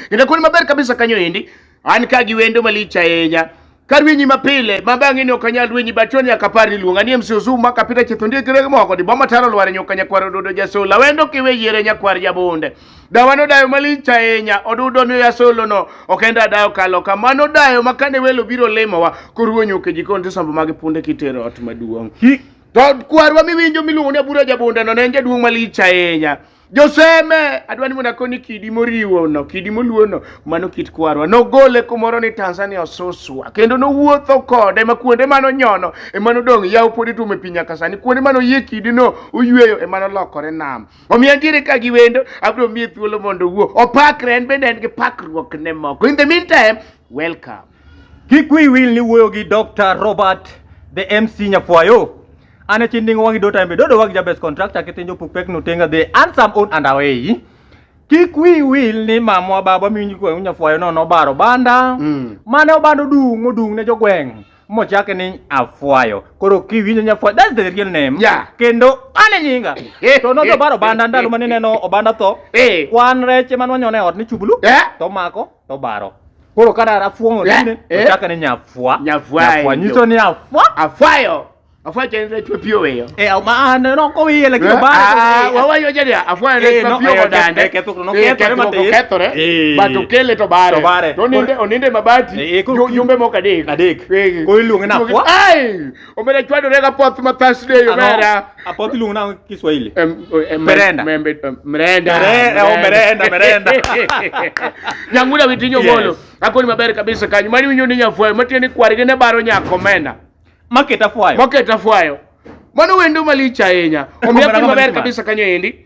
Kendo kuonde maber kabisa kanyo endi an ka gi wendo malich ahinya ka rwenyi mapile ma bang'e ni ok anyal rwenyi bacho nyaka par ni luonga ni MC Ozumu ma kapita chetho ndie kire moko di boma taro lware nyoka nyakwar odudo jasula wendo kiwe yiere nyakwar jabonde dawano dayo malich ahinya odudo miyo jasolo no ok en dadayo kalo kamano dayo ma kane welo biro limowa koruwo nyuke jikon tisombo mag punde kitero ot maduong' to kwarwa miwinjo miluongo ni abura jabonde no ne en jaduong' malich ahinya Joseme, adwa ni mondo akoni kidi moriwo no, kidi moluo no, mano kit kwarwa. Nogole kumoro ni Tanzania osuswa, kendo nowuotho kode ma kuonde mano nyono, e mano dong' yaw podi tume piny nyaka sani, kuonde mano yie kidi no oyueyo, e mano lokore nam. Omiyo antiere ka gi wendo, abro miye thuolo mondo owuo. Opakre, en bende en gi pakruok ne moko. In the meantime, welcome. Kik wiyi wil ni wuoyo gi Dr. Robert the MC Nyafwayo. An e chindingo wangi do time dodo wag jabes contractor kitinjo puk pek nutenga the ansam on and away. Kik wiyi wil ni mamwa baba miwinji kwa Nyafwayo no nobaro banda. Mm. Mane obando dung odung ne jogweng. Mochake ni Afwayo. Koro kiwinjo Nyafwayo that's the real name. Yeah. Kendo ane nyinga. to no jobaro banda ndalo mane neno obanda tho. Eh. Kwan reche manwanyone ot ni chubulu. Eh. To mako. to baro koro ka dara fuong'o Eh, tinde eh. ochaka ni nyafwa Nyafwayo. nyafwa nyiso ni afwa Afwayo. Afwayo tiende ni chwe pi oweyo. eh ma an no ko wiye lakini Eh, baro ah, wawayo jadi afwayo Eh, ne no, chwe pi eh, odande. eh, ketho- no, Eh, kethore kethruok matin. okethore. Eh. But okele to bare. To bare. To oninde- oninde mabati. Eh, eh, ko- Ju- Jumbe moko adek. Adek. Eh. Koro iluonge ni afwa. Ai! Omera chwado rega poth ma Thursday omera. Apoth iluongo na Kiswahili. Merenda. Merenda. Merenda, merenda. Nyangula witinyo bolo. Akoni maber kabisa kanyo. Mani winyo ni nyafwayo. Matieni kwarige ne baro nyako mena. Maketa fwayo. Maketa fwayo. Mano wendo malich ahinya. Omiyo akoni maber kabisa kanyo endi.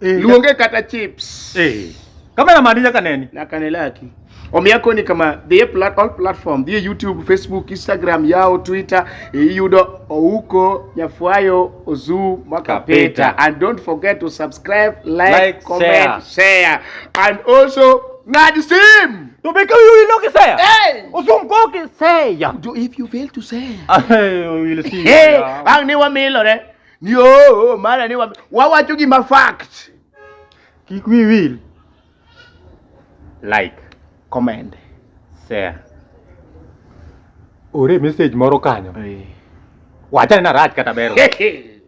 Eh, Luonge kata chips. Eh. Kamera mani nyaka neni. Nyaka ne laki. Omiya koni kama dhiye plat, all platform dhiye YouTube, Facebook, Instagram, yao Twitter iyudo Ouko Nyafwayo Ozu Mwakapeta and don't forget to subscribe, like, like comment, share. share and also ng'ad sim to make you know kisaya hey. usum ko kisaya do if you fail to say I will see hey. ang ni wamilore ni oo mara ni wawacho gima fact. Kik we will like, comment, share. Ore message moro kanyo. Wachane na rach kata bero.